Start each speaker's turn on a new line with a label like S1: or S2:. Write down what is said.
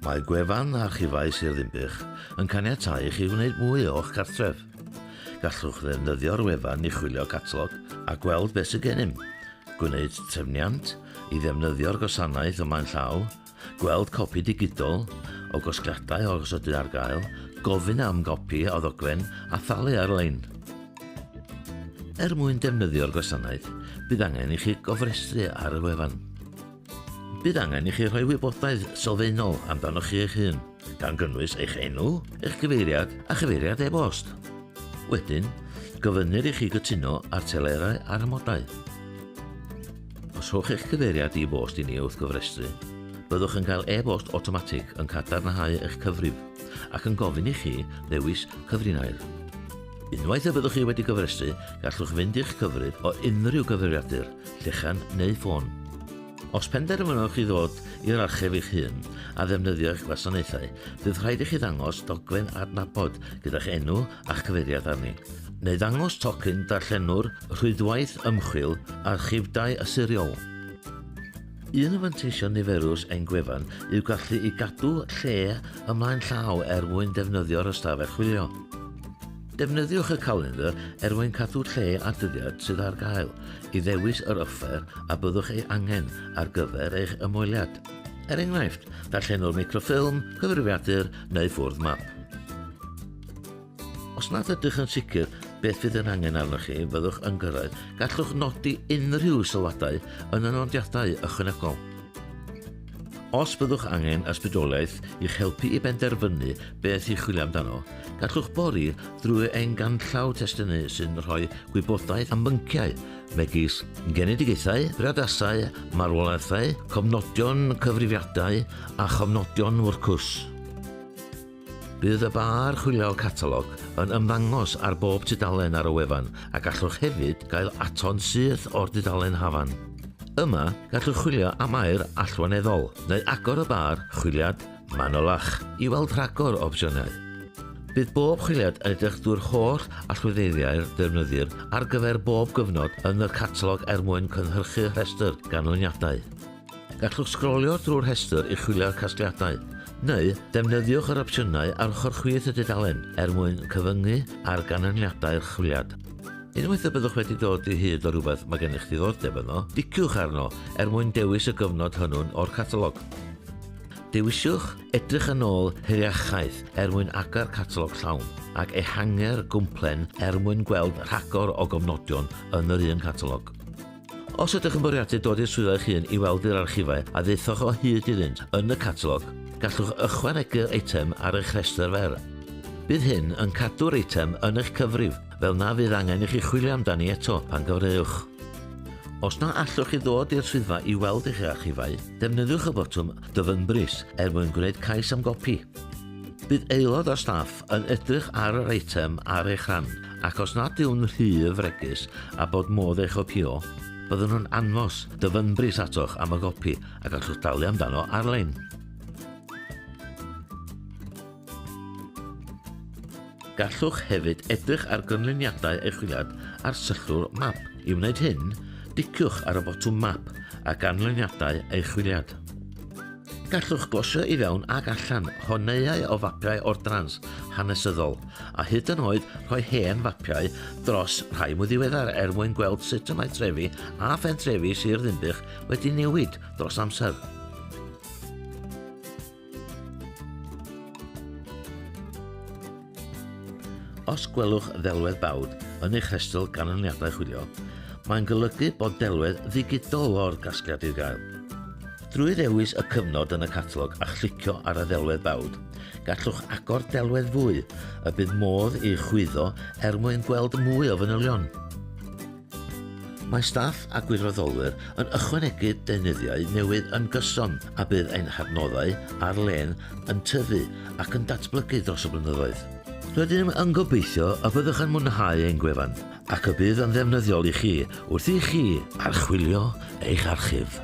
S1: Mae gwefan Archifau Sir Ddinbych yn caniatáu i chi wneud mwy o'ch cartref. Gallwch ddefnyddio'r wefan i chwilio catalog a gweld beth sydd gennym, gwneud trefniant i ddefnyddio'r gwasanaeth o flaen llaw, gweld copi digidol o gosgliadau o gosodau ar gael, gofyn am gopi o ddogfen a thalu ar-lein. Er mwyn defnyddio'r gwasanaeth, bydd angen i chi gofrestru ar y wefan. Bydd angen i chi rhoi wybodaeth sylfaenol amdanoch chi eich hun, gan gynnwys eich enw, eich cyfeiriad a chyfeiriad e-bost. Wedyn, gofynnir i chi gytuno ar telerau a'r amodau. Os rhowch eich cyfeiriad i bost i ni wrth gofrestru, byddwch yn cael e-bost awtomatig yn cadarnhau eich cyfrif ac yn gofyn i chi ddewis cyfrinair. Unwaith y byddwch chi wedi gofrestru, gallwch fynd i'ch cyfrif o unrhyw gyfrifiadur llechan neu ffôn. Os penderfynwch chi ddod i'r archeb eich hun a ddefnyddio eich gwasanaethau, bydd rhaid i chi ddangos dogfen adnabod gyda'ch enw a'ch cyfeiriad arni, neu ddangos tocyn darllenwr Rhwydwaith Ymchwil Archifdai Siriol. Un o fanteision niferus ein gwefan yw gallu i gadw lle ymlaen llaw er mwyn defnyddio'r ystafell chwilio. Defnyddiwch y calendr er mwyn cadw lle a dyddiad sydd ar gael. i ddewis yr offer a byddwch ei angen ar gyfer eich ymweliad. Er enghraifft, darllenwr microffilm, cyfrifiadur neu ffwrdd map. Os nad ydych yn sicr beth fydd yn angen arnoch chi fyddwch yn gyrraedd, gallwch nodi unrhyw sylwadau yn y nodiadau ychwanegol. Os byddwch angen ysbrydoliaeth i'ch helpu i benderfynu beth i chwilio amdano, gallwch bori drwy ein ganllaw testynnu sy'n rhoi gwybodaeth am bynciau megis genedigaethau, priodasau, marwolaethau, cofnodion cyfrifiadau a chofnodion wrth cwrs. Bydd y ba archwilio catalog yn ymddangos ar bob tudalen ar y wefan a gallwch hefyd gael aton syth o'r dudalen hafan. Yma, gallwch chwilio am air allweneddol, neu agor y bar chwiliad manylach i weld rhagor o opsiynau. Bydd bob chwiliad yn edrych drwy'r holl allweddeiriau'r defnyddir ar gyfer bob gyfnod yn y catalog er mwyn cynhyrchu rhestr ganlyniadau. Gallwch sgrolio drwy'r rhestr i chwilio'r casgliadau, neu defnyddiwch yr opsiynau ar ochr chwith y dudalen er mwyn cyfyngu ar ganlyniadau'r chwiliad. Unwaith y byddwch wedi dod i hyd o rhywbeth mae gennych ddiddordeb yno, diciwch arno er mwyn dewis y gyfnod hynw'n o'r catalog. Dewisiwch edrych yn ôl heriachaeth er mwyn agor catalog llawn ac ehangu'r gwmplen er mwyn gweld rhagor o gofnodion yn yr un catalog. Os ydych yn bwriadu dod i'r swyddfa eich hun i weld yr archifau a ddaethoch o hyd iddynt yn y catalog, gallwch ychwanegu'r eitem ar eich rhestr fer. Bydd hyn yn cadw'r eitem yn eich cyfrif, fel na fydd angen i chi chwilio amdani eto pan gyfleowch. Os na allwch chi ddod i'r swyddfa i weld eich archifau, defnyddiwch y botwm 'Dyfynbris' er mwyn gwneud cais am gopi. Bydd aelod o staff yn edrych ar yr eitem ar eich rhan, ac os nad yw'n rhy fregus a bod modd ei chopïo, byddwn nhw'n anfos dyfynbris atoch am y gopi a gallwch dalu amdano ar-lein. Gallwch hefyd edrych ar gynlyniadau eich chwiliad ar sychlwr map. I wneud hyn, diciwch ar y botwm map a ganlyniadau eich chwiliad. Gallwch glosio i fewn ac allan honeuau o fapiau ordrans hanesyddol, a hyd yn oed rhoi hen fapiau dros rhai mwy ddiweddar er mwyn gweld sut y mae trefi a phentrefi Sir Ddinbych wedi newid dros amser. Os gwelwch ddelwedd bawd yn eich rhestr ganlyniadau chwilio, mae'n golygu bod delwedd ddigidol o'r gasgliad i'w gael. Drwy ddewis y cyfnod yn y catalog a chlicio ar y ddelwedd bawd, gallwch agor delwedd fwy y bydd modd ei chwyddo er mwyn gweld mwy o fanylion. Mae staff a gwirfoddolwyr yn ychwanegu deunyddiau newydd yn gyson a bydd ein hadnoddau ar-lein yn tyfu ac yn datblygu dros y blynyddoedd. Rydym yn gobeithio y byddwch yn mwynhau ein gwefan ac y bydd yn ddefnyddiol i chi wrth i chi archwilio eich archif.